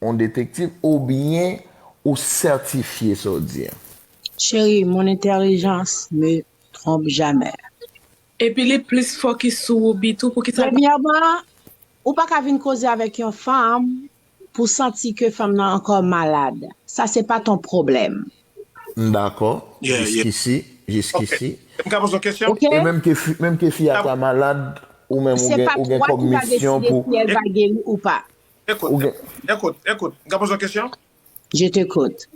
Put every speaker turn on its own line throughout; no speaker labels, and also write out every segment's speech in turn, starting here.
On detektiv ou byen ou sètifye sa w di an? Cheri,
mon intelligence me trompe jamais. Epi li
plis fokis sou Woubi tou pou kisa l pa. Premyèman,
ou pa ka vin koze avèk yon fanm pou w santi ke fanm nan ankò malad. Sa se pa ton pwoblèm. M dakò,
jiskisi,
jiskisi. M ka poze
yon
kesyon? E menm ke fi, menm
ke
fi a
ta malad,
ou
menm ou gen, ou gen kòm
misyon
pou.
Se pa
twa ki
va deside
si el va
geri ou
pa.
Ou gen.
Ekout, ekout, m ka
poze yon kesyon? Je t'ecoute.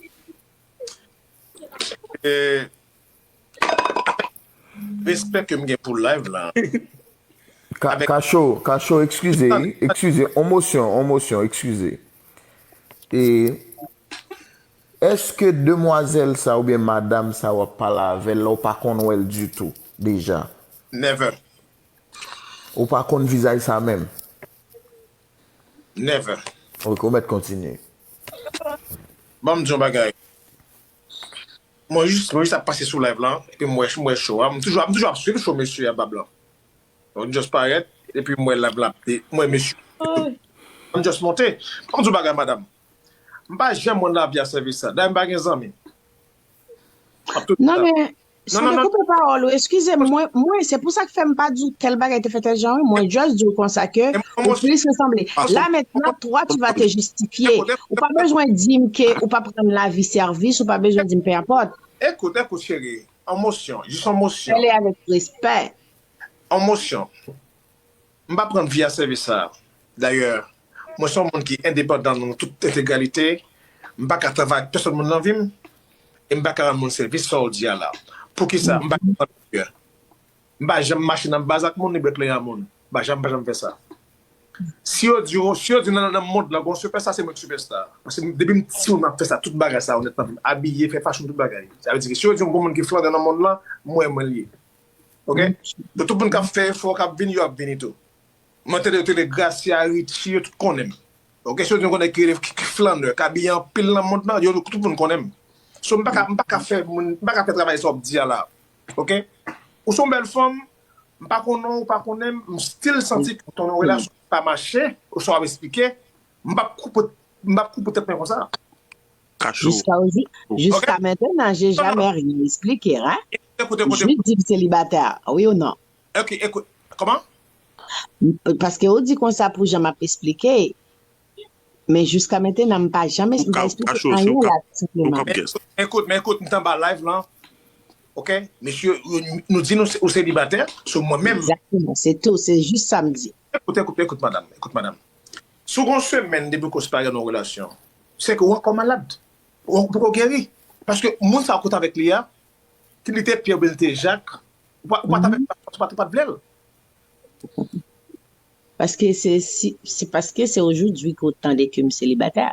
E, respè ke m gen pou live la. Ka, Kacho, Kacho,
ekskize, ekskize, on mosyon, on mosyon, ekskize. E, èske demwazèl sa oubyen madam sa wap pale avè l la ou pa konn wè l ditou, deja? Never. Ou pa konn vizaj sa menm?
Never. Ok ou mèt kontinye. Banm di yon bagay. Mwen jis mwen jis ap pase sou live lan epi m wè m wè show a m toujou ap m toujou ap swiv show mesye a bab lan m just parèt epi m wè live lan ap de m wè mesye m just monte banm di w bagay madam m pa janm wè nan lavi a sèvis sa dayè m pa gen zanmi m ap toujou nan
men Non, non, non. Sou dekoupe pawòl
ou,
eskize
m,
mwen, mwen, se pou sa k fè m pa di w tèl bagay te fè tèl jan wi, mwen just di w konsa ke ou plis resanble.
La
mentnan, toi tu vas te justifier. Ou pa bezwen di m ke ou pa p rann lavi sèvis, ou pa bezwen di m peu importe. Ekout, ekout cheri,
an mosyon, jis an mosyon. Pale avèk
respè. An
mosyon. M pa pran via sèvis sa a. Dayè, mwen se yon moun ki endepandan nan tout entegralite, m pa ka travay ak pèsòn moun nan vi m, e m pa ka rann moun sèvis sa w di a la. Poukisa m pa ka pran Uber? M pa janm mache nan baz ak moun ni bwè kleren moun. M pa janm, pa janm fè sa. Si yo di w, si yo di w nan mond lan gon sipèsta, se mwen ki sipèsta a. Paske depi m timoun m ap fè sa, tout bagay sa yo nèt nan vi m. Abiye, fè fashion, tout bagay. Sa vle di ke si yo di w gon moun ki flangan nan mond lan, mwen, mwen l ye. Ok pou tout moun kap fè efò kap vini yo ap vini tou mwen tande yo te rele gracia richie yo tout konnenm ok se yo nou konnen ki rele flanneur k abiye anpil nan mond lan yo tout moun konnenm so m paka m paka fè moun m paka fè travay sa wap di a la ok ou son bèl fanm m pa konnenw ou pa konnenm m stil santi ke ton relasyon pa mache ou sa wap esplike m pap kou m pap kou pou tèt mwen konsa. Kachou. Jiska
mentena je jamè ryen esplike ha. Jwid di
l selibatè
wi ou non. Ok ekout
koman?
Paske ou di konsa pou jan map esplike men jiska mentena m pa janm esplike anyen la tou senpleman. Men ekout men ekout
m t anba live lan ok mesye nou di nou ou selibatè so mwen menm. Exactement se tou
se jis sa m di. Ekout, ekout, ekout madam,
ekout madam. Si w gen yon semèn depi kous pa gen yon relasyon, se ke ou ankò malad. Ou ankò poko geri. Paske moun sa ou kout avèk li a, ke li te Pyè oubyen li te Jak, ou pa t avèk li paske ou pa t vle l.
Paske se si, se paske se ojoudwi ke w tande ke m selibatè.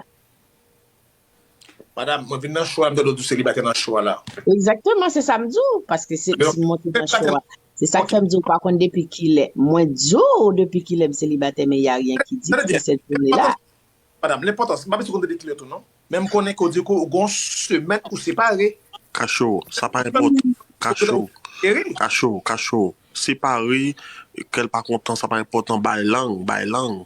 Madam, mwen vin nan show a, m tande w di w selibatè nan show a la. Egzakteman, se sa m
di w, paske se ti mwen ki nan show a. Se sa k fè m di w, m pa konn depi kilè. Mwen di w depi kilè m selibatè men ya ryen ki di ke sèt jounen la. Madam, lenpòtans,
m pa bezwen konn depi kilè tou non. Men m konnen ke w di ke w gen yon semèn ou separe. Kachou, sa
pa enpòtan. Kachou, kachou, kachou, separe, ke l pa kontan, sa pa enpòtan, bay lang, bay lang.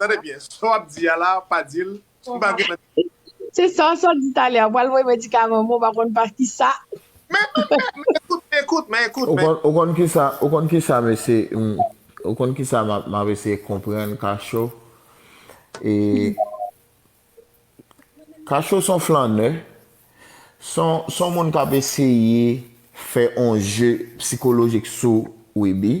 Tande byen, sa w ap di a
la, pa di l, m pa gen nan. Se sa w sot di talè a, ou pral voye medikaman mwen pa konn pa ki sa. Men, men,
ekout, men ekout, men ekout, men. Ou konn ki
sa, ou konn ki sa m ese, m, ou konn ki sa m ap eseye konprann Kacho? E, Kacho s on flannè, s on, s on moun k ap eseye fè on je psikolojik sou Wiby.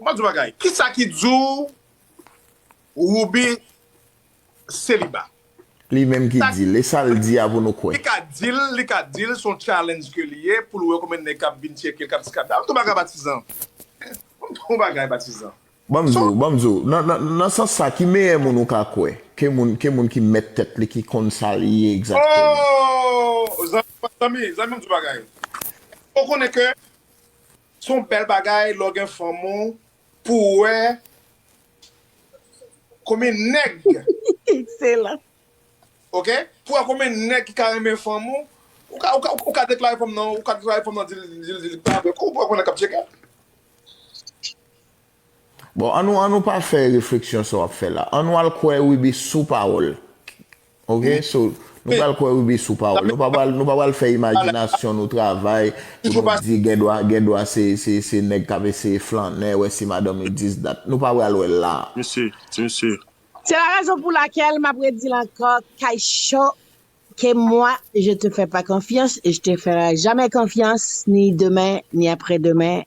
M ap di w yon bagay, ki sa ki di w Rouby seliba? Li
menm ki di l, e sa l di a pou nou kwè? Li ka di l, li ka
di l s on challenge ke li ye pou l wè konbyen nèg k ap vin tcheke l, k ap di kata. M di w yon bagay Batizan, m di w yon bagay Batizan. Ban m di w, ban m di w,
nan sans sa ki meyè moun ou ka kwè ke moun, ke moun ki mèt tèt li, ki konn sa li ye egzakteman?
Oo! Zanmi, zanmi m di w yon bagay, èske w konnen ke. Son bèl bagay lè w gen fanm ou pou w wè konbyen nèg Excellent.
ok
pou wè konbyen nèg ki ka renmen fanm ou ou ka deklare fanm nan ou ka deklare fanm nan di l di l di l pa avè w kou pou wè konbyen nèg k ap tcheke l.
Bon annou annou pa fè refleksyon sa wap fè la annou al kwè Rubi sou pawòl ok so nou pral kwè Rubi sou pawòl nou pa pral nou pa pral fè imajinasyon nou travay pou nou di gendwa gendwa se se se nèg kap eseye flannè wè si madanm li dis dat nou pa pral wè la. Mesi ti mesye.
Se
la rezon pou lakel map redil anko kay cho ke mwa je te fè pa konfyans e je te fèra jamè konfyans ni demen ni apre demen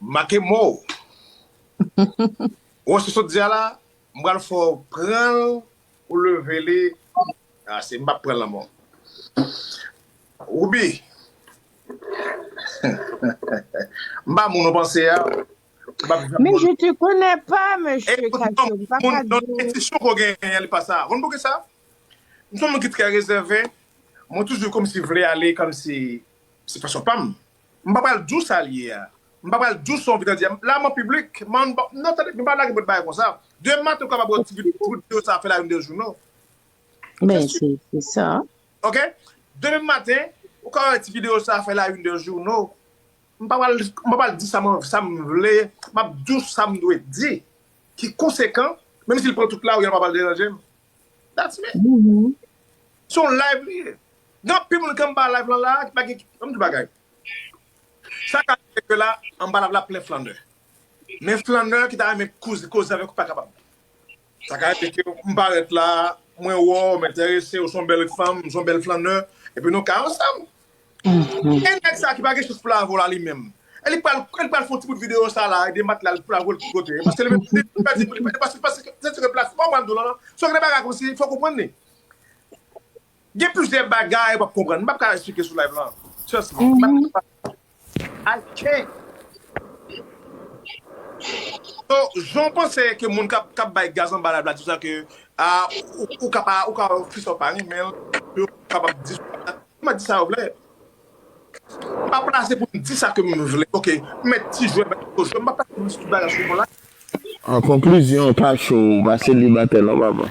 Make mo ou. Ou wè sa w sot di a la? M pral fè w pran l. Ou leve li. Ase, m pa p pran l ankò. Woubi! M pa moun ou panse a. Men
je te konnè pa, mesye Kato. M pa ka di w. Entisyon
ke w genyen an li pa sa. Ou konn pouki sa? M se yon moun ki trè rezève. Mwen toujou kòmsi vle ale kòmsi se fason pa m. M pa pral di w sa l ye a. M pa pral di w sa w vin nan di a. La m an piblik. Man, non tande, nou pa lage bòt bagay konsa. Demen maten ou kapab wè yon ti videyo, kout videyo sa a fè la youn de jou non. Men,
se sa. Ok?
Demen maten, ou ka wè ti videyo sa a fè la youn de jou non. M pa pral, m pa pral di sa m, sa m vle. M ap di w sa m dwe di. Ki konsekan, menm si l pran tout la ou y a l pa pral deranje m. That's me. Se yon live li ye. Gen anpil moun ki anba live lan la a ki pa gen, an m di w bagay, sa ka rive ke la anba live la plen flannè. Men flannè ki ta renmen koze avèk ou pa kapab. Sa ka rive ke m parèt la, mwen wè w, m enterese, ou se yon bèl fanm, ou se yon bèl flannè, epi nou ka ansanm. E nèg sa ki pa gen chans pou lavo la li menm? E li pral e li pral fè yon ti bout videyo sa la e de matla l pou lavo l ki kote? Paske li menm li pèdi pou li pèdi paske paske se sou ke plat fòm an dola lan se ke bagay konsi fò w konprann li. Gen plizyè bagay ou pap konprann. M pap ka esplike sou live lan. Trust me. M pap ka pale. Ay chen! So jan w panse ke moun kap kap bay gaz anba lab la di w sa ke ah ou ka pa ou ka wè fi sa w pa renmen l yo kapab di sa yo mèt di sa yo vle m pa plase pou m di sa ke m vle ok m mèt ti jwè bay gwo jwè m pa plase pou m di tout bagay sou moun la. An
konklizyon pa cho ou pa selibatè non papa.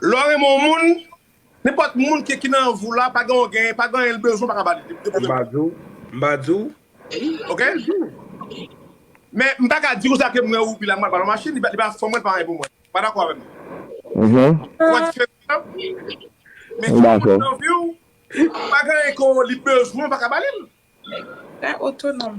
Lè w
renmen yon moun, nenpòt moun ke ki nan vi w la, pa gen yon genyen, pa gen anyen li bezwen ou pa ka ba li, li depoze M ba di w, m ba di w,
m ba
di w. Men m pa ka di w sa ke m renmen ou pi la m pral ba l yon machin, li pa fanm mwen, li pa anyen pou mwen. Ou pa dakò avè m? Ou wè diferans lan? Men si yon moun nan vi w, pa gen anyen ke li bezwen ou pa ka
ba li l. Li
pa otonòm.